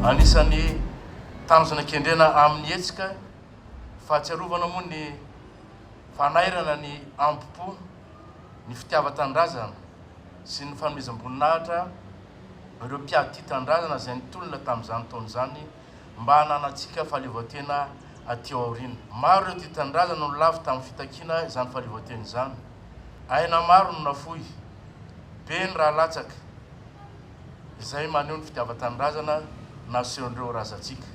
Anisan'ny tanjona kendrena amin'ny hetsika fahatsiarovana moa ny fanairana ny ambo-po, ny fitiavan-tanindrazana sy ny fanomezam-boninahitra ireo mpiatitanindrazana izay nitolona tamin'izany taona izany. mba hananantsika fahaleovantena aty aoriana. Maro ireo tia tanindrazana no lavo tamin'ny fitakiana izany fahaleovantena izany. Aina maro no nafoy, be ny rà latsaka, izay maneho ny fitiavan-tanindrazana nasehon'ireo razantsika.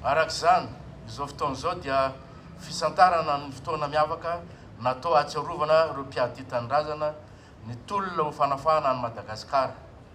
Araka izany, izao fotoana izao dia fisantarana ny fotoana miavaka natao hahatsiarovana ireo mpiady tia tanindrazana nitolona ho fanafahana an'i Madagasikara.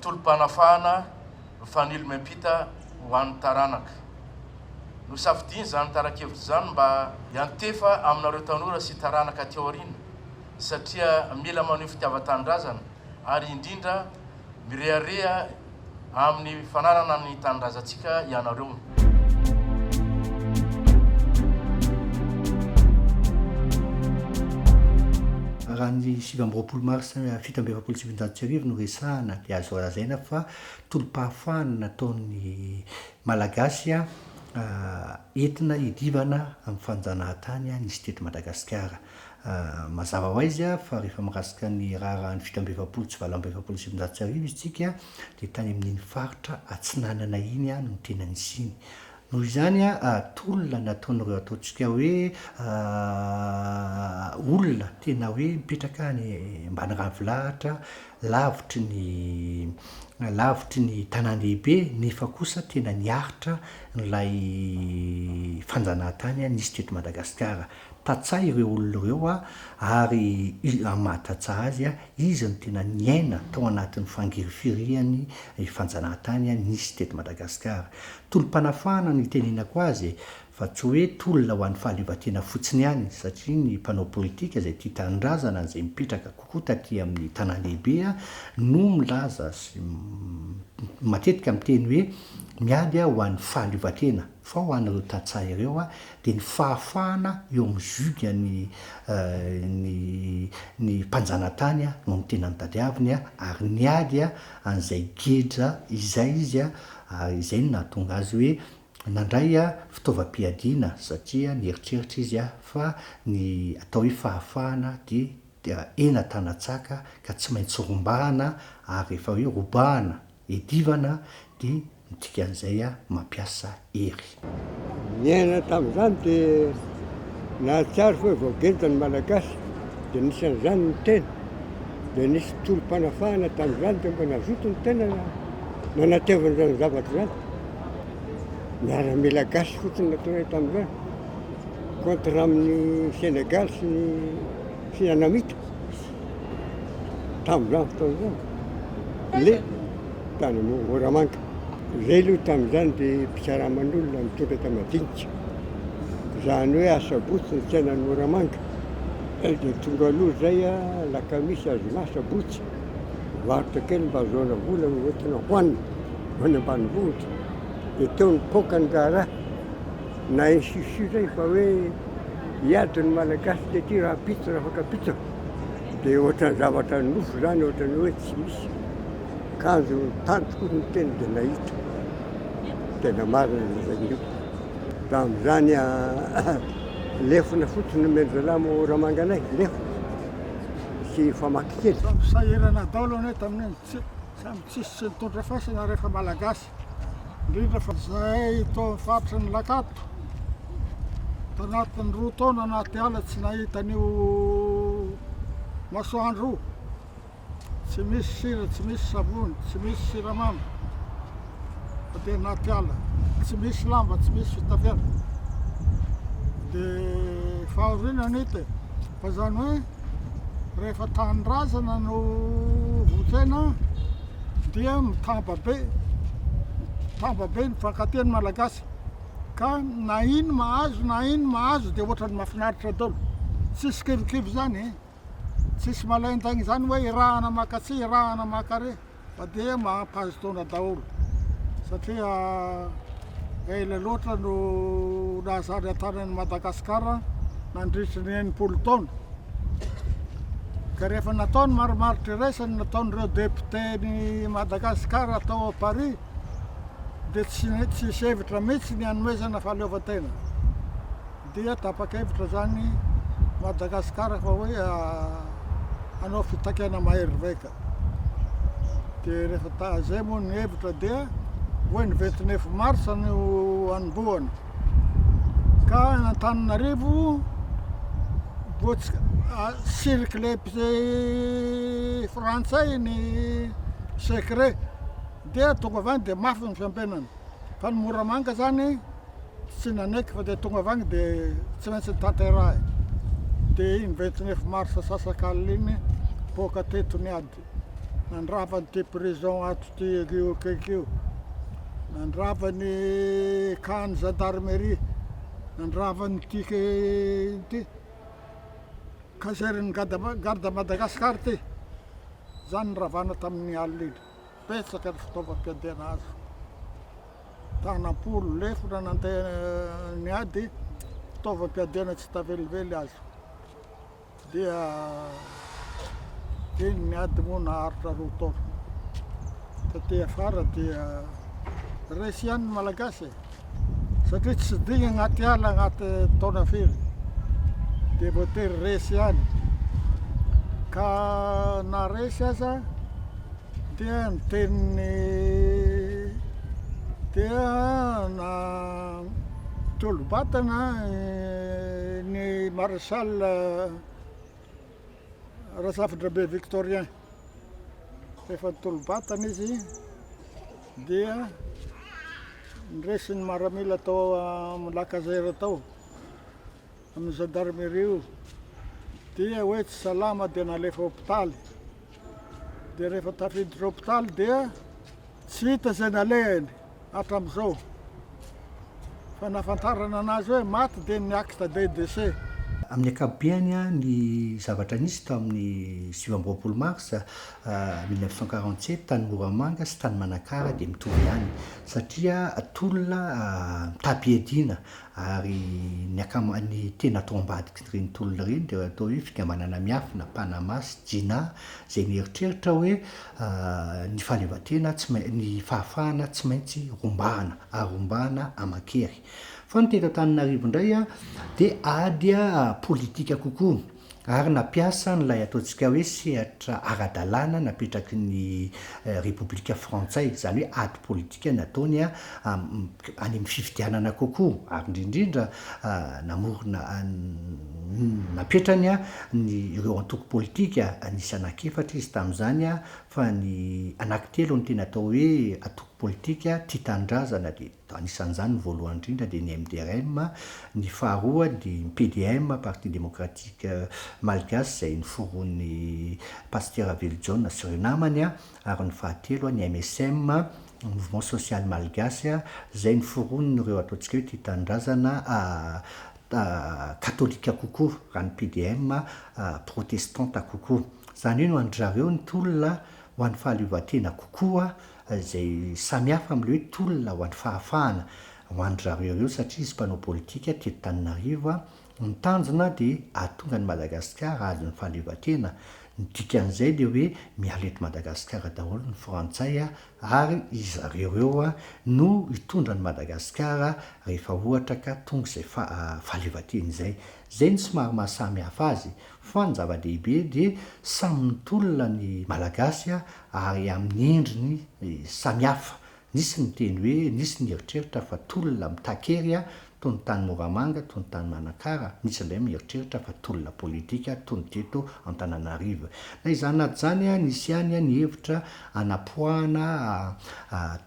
tolom-panafahana mifanilo miampita ho an'ny taranaka. Nosafidiany izany tara-kevitra izany mba hiantefa aminareo tanora sy taranaka aty aoriana satria mila maneho fitiavan-tanindrazana ary indrindra mirehareha amin'ny fananana ny tanindrazantsika ianareo. Raha ny sivy amby roapolo marsa Fito amby efapolo sy sivinjato sy arivo no resahana dia azo lazaina fa tolom-pahafahana nataon'ny Malagasy entina hidivana amin'ny fanjanahan-tany nisy teto Madagasikara. Mazava ho aiza fa rehefa mirasika ny raharahan'ny fito amby efapolo sy valo amby efapolo sy sivinjato sy arivo isika dia tany amin'iny faritra atsinanana iny no tena nisiany Noho izany tolona nataon'ireo ataontsika hoe olona tena hoe mipetraka any ambany ravilahatra lavitry ny lavitry ny tanàn-dehibe nefa kosa tena niaritra an'ilay fanjanahantany nisy teto Madagasikara. Tantsaha ireo olona ireo ary amin'ny maha tantsaha azy Iza no tena niaina tao anatin'ny fangirifirian'ny fanjanahantany nisy teto Madagasikara? Tolom-panafahana no itenenako azy e! Fa tsy hoe tolona ho an'ny fahaleovantena fotsiny ihany, satria ny mpanao politika izay tia tanindrazana izay mipetraka kokoa taty amin'ny tanàn-dehibe no milaza sy matetika miteny hoe miady ho an'ny fahaleovantena. Fa ho an'ireo tantsaha ireo dia ny fahafahana eo amin'ny juge an'ny ny ny mpanjanatany no ny tena nitadiaviny ary niady an'izay geja izay izy ary izay no nahatonga azy hoe nandray fitaovam-piadiana satria nieritreritra izy fa ny atao hoe fahafahana dia dia hena tana-tsaka ka tsy maintsy rombahana ary rehefa hoe robahana Edivana dia ny dikan'izay mampiasa hery. Niaina tamin'izany dia nahatsiaro fa hoe voagenta ny Malagasy dia anisan'izany ny tena. Dia nisy tolom-panafahana tamin'izany dia mba nazoto ny tena nanatevina izany zavatra izany. Miaramila gasy fotsiny no nataonay tamin'izany, contre amin'ny Sénégal sy ny Fianamita. tamin'izany fotoana izany, le tany amin'ny Moramanga. Izay aloha tamin'izany dia mpikaraman'olona nitondra enta-madinika. Izany hoe asabotsy ny tsenan'ny Moramanga. Eo dia tonga aloha izay alakamisy, azoma, asabotsy. Varotra kely mba ahazoana vola hoentina hohanina ho any ambanivohitra. Dia teo nipoaka ny raharaha. Na insistir zay fa hoe hiady ny Malagasy dia aty rahampitso rafakapitso dia ohatran'ny zavatra nofo zany ohatran'ny hoe tsy misy kanjo tany tokoa ny teny dia nahita tena marina ny zainio raha amin'izany lefona fotsiny no mendry zalahy mo ramanganay lefona sy famaky kely sahirana daolo anie tamin'iny samy tsisy tsy nitondra fasana rehefa Malagasy indrindra fa izahay eto amin'ny faritry ny Lakato, tanatin'ny roa taona anaty ala tsy nahita an'io masoandro io, tsy misy sira, tsy misy savony, tsy misy siramamy, fa dia anaty ala, tsy misy lamba, tsy misy fitafiana, dia fahoriana an'ito e, fa izany hoe. rehefa tanindrazana no vontena dia mitamba be mitamba be ny fakan-teny malagasy ka na ino mahazo na ino mahazo dia ohatran'ny mahafinaritra daholo tsisy kivikivy zany e tsisy malain-tsaigny zany hoe irahana makatsy irahana maka re Fa dia mampahazo taona daholo satria ela loatra no nahazatra an-tany an'i Madagasikara nandritry ny enimpolo taona. Ka rehefa natao ny marimaritra iraisany nataon'ireo depioten'i Madagasikara tao Paris dia tsy tsisy hevitra mihitsy ny hanomezana fahaleovantena. Dia tapa-kevitra izany Madagasikara fa hoe hanao fitakiana maheriveka. Dia rehefa taha zay moa ny hevitra dia hoe ny vingt neuf mars no hanombohana. Ka Antananarivo vao tsy circle frantsay ny secret dia tonga avy any dia mafy ny fiambenana. Fa ny Moramanga zany tsy nanaiky fa dia tonga avy agny dia tsy maintsy nitanterahy. Dia iny vingt neuf mars sasakalina iny poaka teto ny ady. Nandrava an'ity prison ato ty io akaiky io. Nandrava ny camp-n'ny gendarmerie, nandrava ny ty ino ty caserne-n'ny Garde Madagascar ty. Zany niravana tamin'ny alina iny. Betsaka ny fitaovam-piadiana azo. Tanam-polo, lefona nandeha niady, fitaovam-piadiana tsy hita velively azo. Dia iny niady moa naharitra roa taona. Taty afara dia resy ihany ny Malagasy e. satria tsy digny agnaty ala agnaty taona firy dia voatery resy ihany ka na resy aza dia ny teniny dia na tolo-batana ny maréchal Razafindrabe Victorien, efa nitolo-batana izy. Dia niraisin' ny maramila tao amin' ny Lacazère tao amin' ny zandarimeria io, dia hoe tsy salama dia nalefa hôpitaly, dia rehefa tafiditra hôpitaly dia tsy hita izay nalehany hatramin' izao, fa nahafantarana anazy hoe maty dia ny acte de décès. Amin'ny ankapobeny, ny zavatra nisy tamin'ny sivy amby roapolo marsa mille neuf cent quarante sept, tany Moramanga sy tany Manakara dia mitovy ihany satria tolona mitam-piadiana ary ny akama, ny tena ato ambadik'ireny tolona ireny dia atao hoe fikambanana miafina, Panama sy Jina, izay mieritreritra hoe ny fahaleovantena tsy main-, ny fahafahana tsy maintsy rombahana ary rombahana aman-kery. Fa ny teto Antananarivo indray dia ady politika kokoa. ary nampiasa an'ilay ataontsika hoe sehatra ara-dalàna napetraky ny Repoblika Frantsay, izany hoe ady politika nataony any amin'ny fifidianana kokoa, ary indrindrindra namorona, napetrany ny ireo antoko politika, nisy anankiefatra izy tamin'izany fa ny anankitelo no tena atao hoe antoko politika tia tanindrazana dia. Anisan'izany ny voalohany indrindra dia ny MDRM, ny faharoa dia ny PDM, Parti Démocratique Malgache, izay noforonin'i Pasitera Ravelojaona sy ireo namany, ary ny fahatelo ny MSM, Mouvement Social Malgache, izay noforonin'ireo ataontsika hoe tia tanindrazana katolika kokoa, raha ny PDM protestanta kokoa. Izany hoe no an-dry zareo ny tolona ho an'ny fahaleovantena kokoa izay samihafa amin'ilay hoe tolona ho an'ny fahafahana ho an-dry zareo ireo satria izy mpanao politika teto Tananarivo, ny tanjona dia hahatonga an'i Madagasikara hahazo ny fahaleovantena, ny dikan'izay dia hoe miala eto Madagasikara daholo ny frantsay ary izy zareo ireo no hitondra an'i Madagasikara rehefa ohatra ka tonga izay fahaleovantena izay. Izay no somary maha samihafa azy fa ny zava-dehibe dia samy mitolona ny Malagasy ary amin'ny endriny samihafa, nisy ny niteny hoe nisy ny nieritreritra fa tolona mitaky hery toy ny tany Moramanga, toy ny tany Manakara, nisy indray mieritreritra fa tolona politika toy ny teto Antananarivo. Na izany na izany, nisy ihany ny hevitra hanapoahana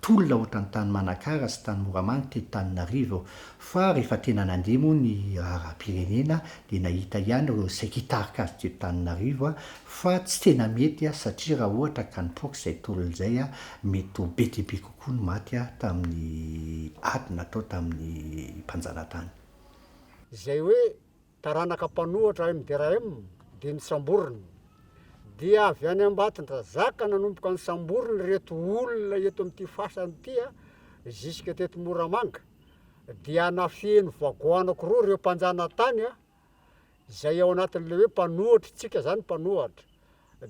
tolona ohatran'ny tany Manakara sy tany Moramanga teto Tananarivo, fa rehefa tena nandeha moa ny raharaham-pirenena dia nahita ihany ireo saika hitarika azy teto Tananarivo Fa tsy tena mety aho satria raha ohatra ka nipoaka izay tolona izay aho, mety ho be dia be kokoa ny maty aho tamin'ny ady natao tamin'ny mpanjanatany. Izay hoe taranaka mpanohatra MDRM dia nisamborina. Dia avy any Ambatondrazaka nanomboka nisamborina ireto olona eto amin'ity fasana ity jusque teto Moramanga. Dia nafehin'ny vagoanako roa ireo mpanjanatany izay ao anatin'ilay hoe mpanohatr' tsika zany mpanohatra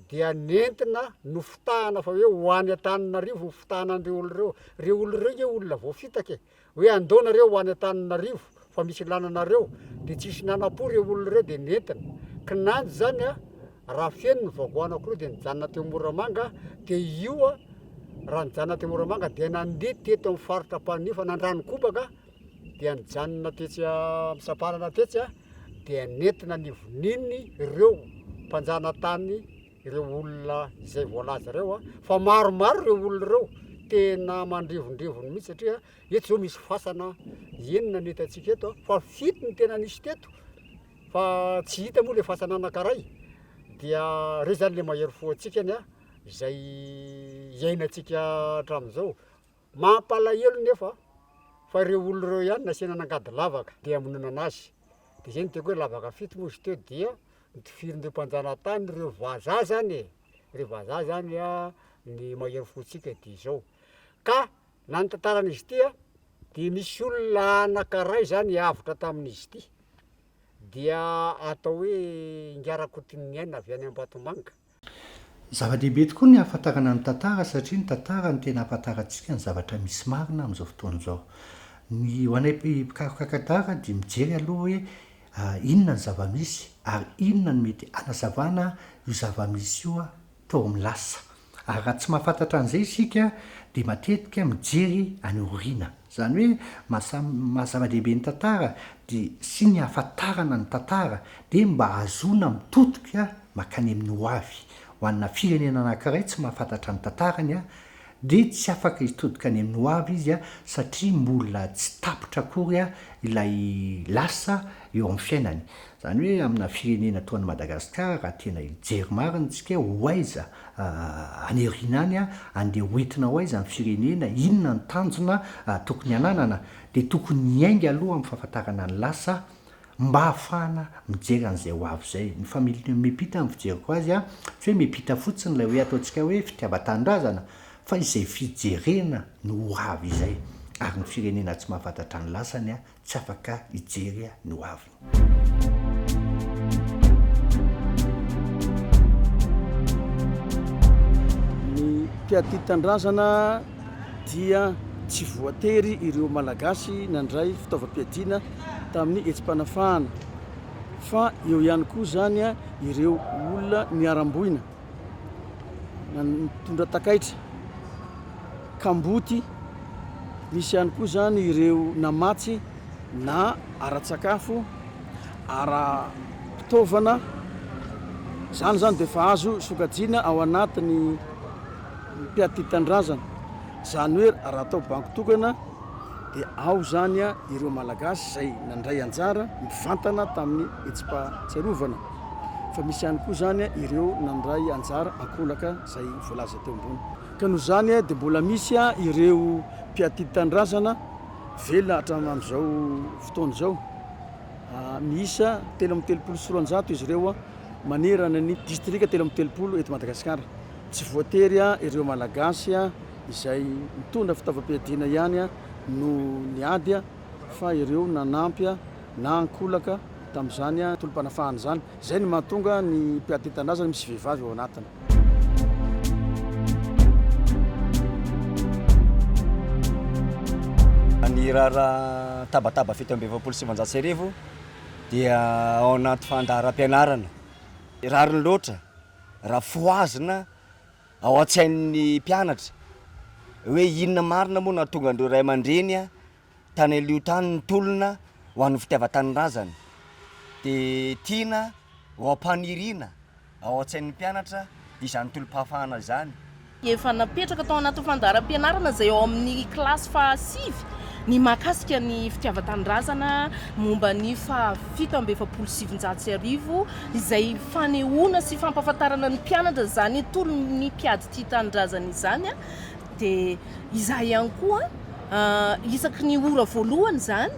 dia nentina nofitahana fa hoe ho any Antananarivo ny fitahana an'ireo olona ireo, ireo olona ireo nge olona voafitaka e, hoe andao nareo ho any Antananarivo fa misy ilana anareo, de tsisy nanapo ireo olona ireo de nentina, kinanjo zany a raha feno ny vagoa anakiroa de nijanona teo Moramanga, de io a raha nijanona teo Moramanga dia nandeha teto amin'ny faritra Ampanihy fa nandrano kobaka dia nijanona tetsy Ampisamparana tetsy dia nentina nivoniny ireo mpanjanatany ireo olona izay voalaza ireo fa maromaro ireo olona ireo tena mandrivondrivony mihitsy satria eto izao misy fasana enina ny hitantsika eto fa fito ny tena nisy teto fa tsy hita moa ilay fasana anankiray dia ireo izany ilay mahery fo antsikany izay iainantsika hatramin'izao Mampalahelo nefa fa ireo olona ireo ihany nasiana nangady lavaka dia hamononana azy. Dia izay no tiako hoe lavaka fito moa izy teo dia notifirin'ireo mpanjanatany ireo vazaha zany e, ireo vazaha zany ny mahery fontsika dia izao. Ka na ny tantaran'izy ity a dia misy olona anankiray zany avotra tamin'izy ity dia atao hoe Ingahy Rakotoniniaina avy any Ambatomanga, Zava-dehibe tokoa ny hahafantarana ny tantara satria ny tantara no tena hahafantarantsika ny zavatra misy marina amin'izao fotoana izao. Ny ho anay mpikaroka tantara dia mijery aloha hoe inona ny zava-misy ary inona no mety hanazavana io zava-misy io tao amin'ny lasa. Ary raha tsy mahafantatra an'izay isika dia matetika mijery any aoriana. Izany hoe maha zava-dehibe ny tantara dia sy ny hahafantarana ny tantara dia mba hahazoana mitotoka makany amin'ny ho avy, ho anà firenena anankiray tsy mahafantatra ny tantarany aho, dia tsy afaka hitodika any amin'ny ho avy izy satria mbola tsy tapitra akory ilay lasa eo amin'ny fiainany. Izany hoe aminà firenena toa an'i Madagasikara raha tena hijery marina isika hoe ho aiza any aoriana any, andeha ho entina ho aiza ny firenena, inona ny tanjona tokony hananana, dia tokony hiainga aloha amin'ny fahafantarana ny lasa mba hahafahana mijery an'izay ho avy izay. Ny familiana miampita ny fijeriko azy an, tsy hoe miampita fotsiny ilay hoe ataontsika hoe fitiavan-tanindrazana fa izay fijerena ny ho avy izay. Ary ny firenena tsy mahafantatra ny lasany an, tsy afaka hijery ny ho aviny. Mpiatitan-drazana dia tsy voatery ireo Malagasy nandray fitaovam-piadiana. tamin'ny hetsi-panafahana fa eo ihany koa izany ireo olona niharam-boina na nitondra takaitra kamboty, misy ihany koa izany ireo namatsy na ara-tsakafo, ara-pitaovana, izany izany dia efa azo sokajiana ao anatin'ny mpiatidy tanindrazana, izany hoe raha atao banky tokana. dia ao izany ireo Malagasy izay nandray anjara mivantana tamin'ny hetsi-pahatsiarovana, fa misy ihany koa izany ireo nandray anjara ankolaka izay voalaza teo ambony. Ka noho izany dia mbola misy ireo mpiaty tanindrazana velona hatramin'izao fotoana izao, miisa telo amby telopolo sy roanjato izy ireo manerana ny distrika telo amby telopolo eto Madagasikara. Tsy voatery ireo Malagasy izay mitondra fitaovam-piadiana ihany no niady fa ireo nanampy na ankolaka tamin'izany tolom-panafahana izany. Izay no mahatonga ny mpiady nentin-drazana misy vehivavy ao anatiny. Ny raharaha Tabataba fito amby efapolo sy sivinjato sy arivo dia ao anaty fandaharam-pianarana rariny loatra. raha fohazina ao an-tsain'ny mpianatra hoe inona marina moa no hahatonga an'ireo ray aman-dreny tany Alio tany nitolona ho an'ny fitiavan-tanindrazany. Dia tiana ho ampaniriana ao an-tsain'ny mpianatra izany tolom-pahafahana izany. Efa napetraka tao anatin'ny fandaharam-pianarana izay ao amin'ny kilasy fahasivy ny mahakasika ny fitiavan-tanindrazana momba ny faha fito amby efapolo sy sivinjato sy arivo izay fanehoana sy fampahafantarana ny mpianatra izany tolon'ny mpiady tia tanindrazana izany dia izaho ihany koa isaky ny ora voalohany izany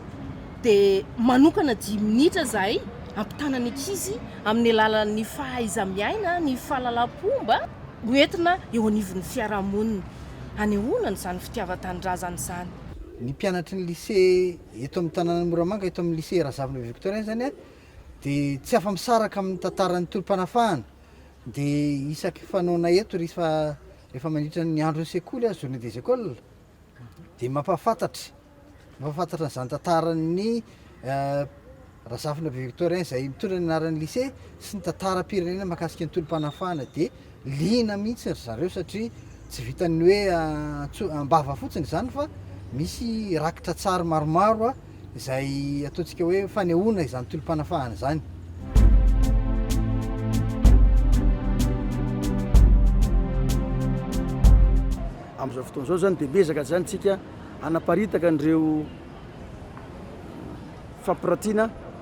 dia manokana dimy minitra izahay hampitana ny ankizy amin'ny alalan'ny fahaiza-miaina, ny fahalalam-pomba ho entina eo anivon'ny fiarahamonina. Hanehoana an'izany fitiavan-tanindrazana izany. Ny mpianatry ny Lycée eto amin'ny tanànan'i Moramanga, eto amin'ny Lycée Razavina Victorin izany dia tsy afa-misaraka amin'ny tantaran'ny tolom-panafahana. Dia isaky fanaonay eto rehefa mandritra ny andron'ny sekoly, journée des écoles, dia mampahafantatra, mampahafantatra an'izany tantaran'ny Razafina Be Victorien izay mitondra ny anaran'ny lycée sy ny tantaram-pirenena mahakasika ny tolom-panafahana dia liana mihitsy ry zareo satria tsy vitan'ny hoe antso- am-bava fotsiny izany fa misy rakitra tsara maromaro izay ataontsika hoe fanehoana izany tolom-panafahana izany. Amin'izao fotoana izao izany dia miezaka izany tsika hanaparitaka an'ireo fampiratiana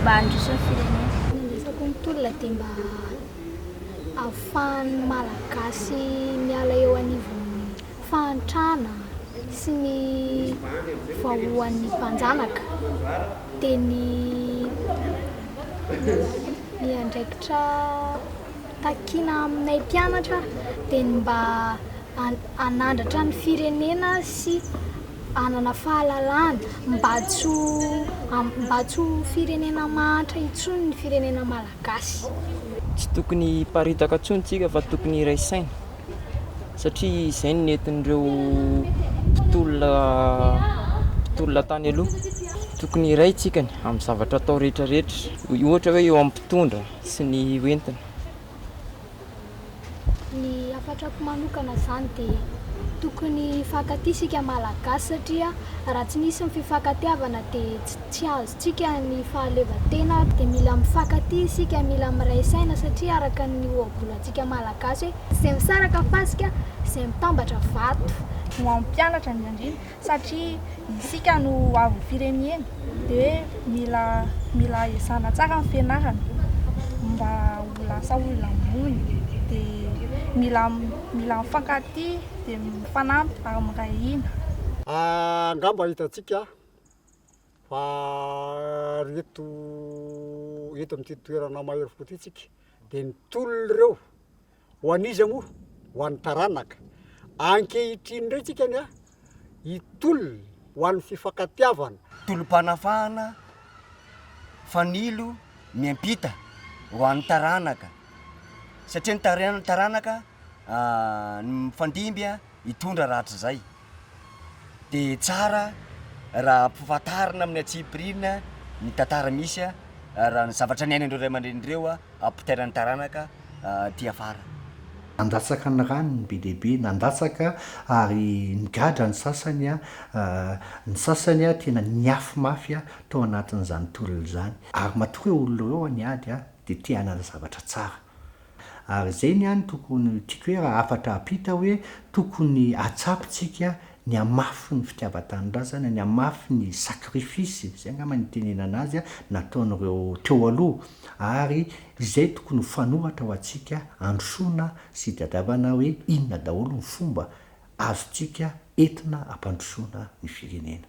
mba handroso ny firenena. Ny resako ny tolona dia mba ahafahan'ny Malagasy miala eo anivon'ny fahantrana sy ny vahoan'ny mpanjanaka dia ny ny andraikitra takiana aminay mpianatra dia ny mba hanandratra ny firenena sy hanana fahalalana mba tsy ho mba tsy ho firenena mahantra intsony ny firenena malagasy. Tsy tokony hiparitaka intsony isika fa tokony hiray saina satria izay no nentin'ireo mpitolona mpitolona tany aloha. Tokony hiray isika amin'ny zavatra atao rehetra rehetra, ohatra hoe eo amin'ny mpitondra sy ny ho entina. Ny hafatrako manokana izany dia tokony hifankatia isika Malagasy satria raha tsy misy ny fifankatiavana dia tsy azontsika ny fahaleovantena ary dia mila mifankatia isika, mila miray saina satria araka ny ohabolantsika Malagasy hoe izay misaraka fasika, izay mitambatra vato. Ho an'ny mpianatra ny andriana, satria isika no ho avin'ny firenena dia mila mila ezahana tsara ny fianarana mba ho lasa olona ambony dia mila mila mifankatia dia mifanampy ary miray hina. Angamba hitantsika fa ry eto eto amin'ity toerana mahery fo ity tsika dia ny tolona ireo Ho an'iza moa? Ho an'ny taranaka. Ankehitriny indray tsika ny ahy hitolona ho an'ny fifankatiavana. Tolom-panafahana fanilo miampita ho an'ny taranaka satria ny taranaka no mifandimby hitondra rahatrizay. dia tsara raha ampahafantarina amin'ny antsipiriany ny tantara misy ary ny zavatra niainan'ireo ray aman-dreny ireo ampitaina ny taranaka aty afara. Nandatsaka ny rany ny be dia be, nandatsaka ary nigadra ny sasany, ny sasany tena niafy mafy tao anatin'izany tolona izany ary matoa ireo olona ireo niady dia te hanana zavatra tsara. Ary izay ny ahy no tokony tiako hoe raha hafatra apita hoe tokony atsapy tsika ny hamafy ny fitiavan-tanindrazana, ny hamafy ny sacrifice, izay angamba no itenenana azy, nataon'ireo teo aloha. Ary izay tokony ho fanoratra ho antsika androsoana sy hitadiavana hoe inona daholo ny fomba azontsika entina hampandrosoana ny firenena.